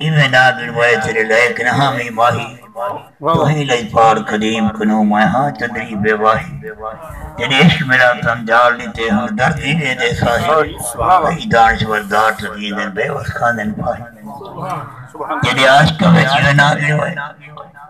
ایویں ناں گنوائے تیرے لئے گنہاں وی ماہی تہیں لئی پار قدیم کنوں میں ہاں چندری بے واہی جݙے عشق میݙا تن جاڑ ݙتے ہݨ درد ای ݙیندے ساہی کئی دانشور داڑ توں ݙیندن بے وس کھاندن پھاہی جݙے عاشقاں وچ ایویں ناں گنوائے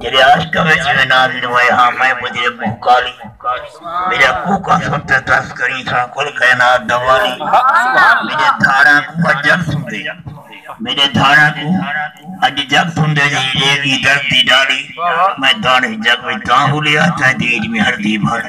جیڑھے عاشقاں وچ ایویں نازل ہوئے ہاں میں ٻدھی اے کوہ کالی میݙا کوکا سݨ تے ترس کریں تھا کل کائنات دا والی میݙے دھاڑاں کوں اڄ جڳ سݨدے میݙے دھاڑاں کوں اڄ جڳ سݨدے جئیں لے ڳی درد دی ݙالی میں داݨ ایں جڳ وچ تاں ہولیا تیݙی اڄ میں ہڑدی بھالی۔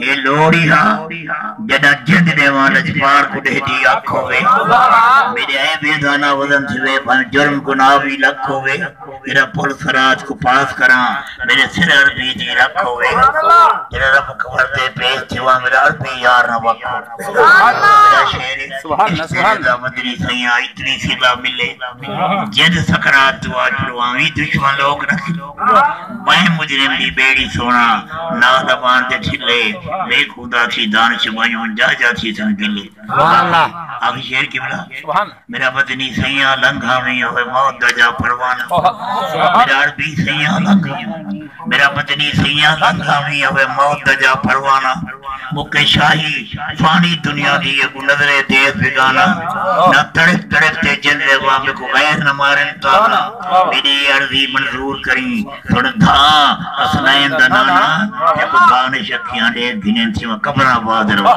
اے لوڑھی ہا جݙاں جند ݙیواں لجپال کوں ݙیہدی اکھ ہووے میݙے اے بیدانہ وزن تھیوے بھاویں جرم گناہ وی لکھ ہووے جݙاں پل صراط کوں پاس کراں میݙے سر عربی دی رکھ ہووے جݙاں رب کنور دے پیش تھیواں میݙا عربی یار نہ وکھ ہووے میݙا شعر اے عشق تیݙے دا مدنی سئیاں اتنی صلا ملے جند سکرات دعا چڑھواویں دشمن لوک نہ ٻہیں مجرم دی ٻیڑی سونا نا زبان تے ٹھلے میں خدا تھی دانش ونجوں جاہ جاہ تھیسن گلے آخری شعر قبلہ میرا وطنی سیاں لنگھا ویں ہوئے موت دا جا پروانہ میرا عربی سیاں لنگھا میرا وطنی سیاں لنگھا ویں ہوئے موت دا جا پروانہ مکیں شاہی فانی دنیا دی اگوں نظرے دیکھ بھگانا نہ تڑف تڑف تے جن دے وا میکوں غیر نہ مارن تالا میڈی اے عرضی منظور کریں سن بھا حسنین دا نانا تے کو دانش اکھیاں ڈیکھ گھنین سیواں قبر آباد رہون۔